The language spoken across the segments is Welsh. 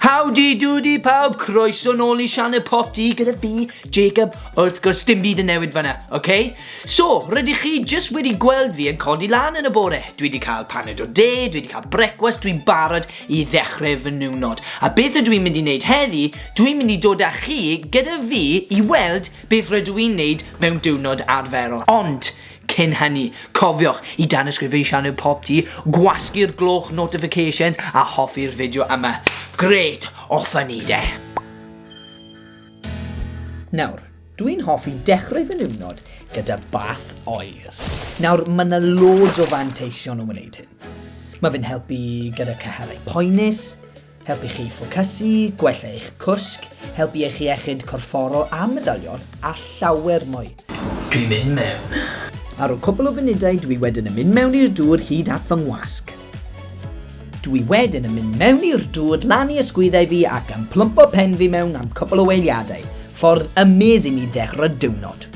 Howdy doody pawb, croeso nôl i sianel Pop Dee gyda fi, Jacob, wrth gwrs dim byd yn newid fanna, oce? Okay? So, rydych chi jyst wedi gweld fi yn codi lan yn y bore, dwi wedi cael paned o de, dwi wedi cael brecwast, dwi'n barod i ddechrau fy niwnod. A beth ydw i'n mynd i wneud heddi, dwi'n mynd i dod â chi gyda fi i weld beth rydw i'n wneud mewn diwrnod arferol. Ond, Cyn hynny, cofiwch i danysgrifio i sianel Pop Tee, gwasgu'r gloch notifications a hoffi'r fideo yma. Grêt, off â ni de! Nawr, dwi'n hoffi dechrau fy niwrnod gyda bath oer. Nawr, mae yna loads o fanteision o wneud hyn. Mae fe'n helpu gyda cyhyrau poenus, helpu chi ffocysu, gwella eich cwsg, helpu i eich iechyd corfforol a medalion, a llawer mwy. Dwi'n mynd mewn. Ar ol cwpl o funudau dwi wedyn yn mynd mewn i'r dŵr hyd at fy ngwasg. Dwi wedyn yn mynd mewn i'r dŵr lan i ysgwyddau fi ac yn plwmpo pen fi mewn am cwpl o weiliadau. Ffordd amazing i ddechrau diwrnod.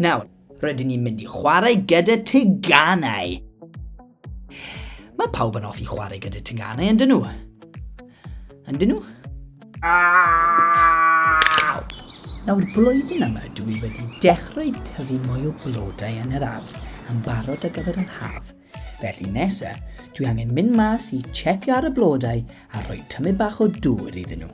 Nawr, Rydyn ni'n mynd i chwarae gyda teganau. Mae pawb yn offi chwarae gyda teganau, yn dyn nhw? Yn dyn nhw? Nawr blwyddyn yma dw i wedi dechrau tyfu mwy o blodau yn yr ardd yn barod ar gyfer yr haf. Felly nesa, dwi angen mynd mas i checio ar y blodau a rhoi tymu bach o dŵr iddyn nhw.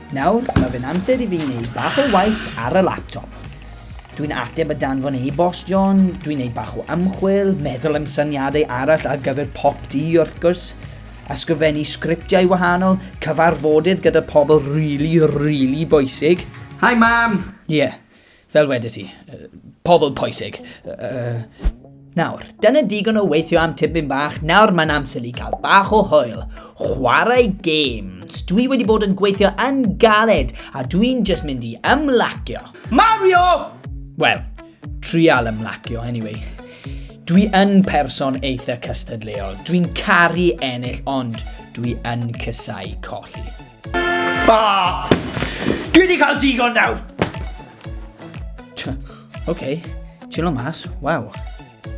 Nawr, mae fe'n amser i fi wneud bach o waith ar y laptop. Dwi'n ateb y danfon e-bost, John, dwi'n neud bach o ymchwil, meddwl am syniadau arall ar gyfer pop di, wrth gwrs, ysgrifennu sgriptiau wahanol, cyfarfodydd gyda pobl rili, really, rili really bwysig. Hi, Mam! Ie. Yeah. Fel wedi ti, pobl pwysig. Nawr, dyna digon o weithio am tipyn bach, nawr mae'n amser i gael bach o hwyl. Chwarae games. Dwi wedi bod yn gweithio yn galed, a dwi'n just mynd i ymlacio. Mario! Wel, trial ymlacio, anyway. Dwi yn person eitha cystadleuol. Dwi'n caru ennill, ond dwi yn cysau colli. Ah! Dwi wedi cael digon nawr! OK, chillo mas, waw.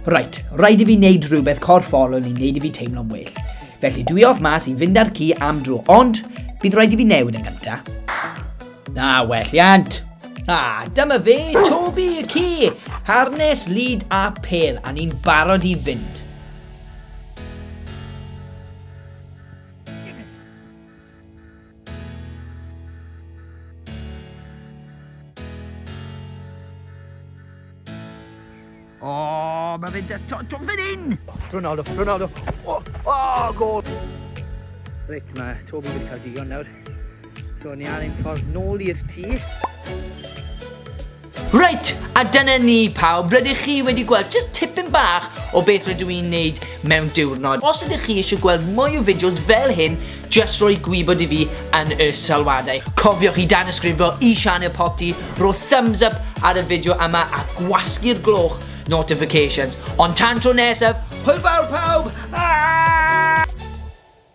Right, rhaid i fi wneud rhywbeth corfforol i wneud i fi teimlo'n well. Felly dwi off mas i fynd ar ci am dro, ond bydd rhaid i fi newid yn gynta. Na, well iant. Ah, dyma fe, Toby y ci, harnes, lid a pel, a ni'n barod i fynd. mae fe'n dest... John fan hyn! Ronaldo, Ronaldo. O, oh, oh, gol! Reit, mae Toby wedi cael digon nawr. So, ni ar ein ffordd nôl i'r tŷ. Reit, a dyna ni pawb, rydych chi wedi gweld jyst tipyn bach o beth rydw i'n neud mewn diwrnod. Os ydych chi eisiau gweld mwy o fideos fel hyn, jyst rhoi gwybod i fi yn y sylwadau. Cofiwch i danysgrifio i Sianel Popty, rho thumbs up ar y fideo yma a gwasgu'r gloch notifications. Ond tan tro nesaf, hwyl fawr pawb! Aaaaahh!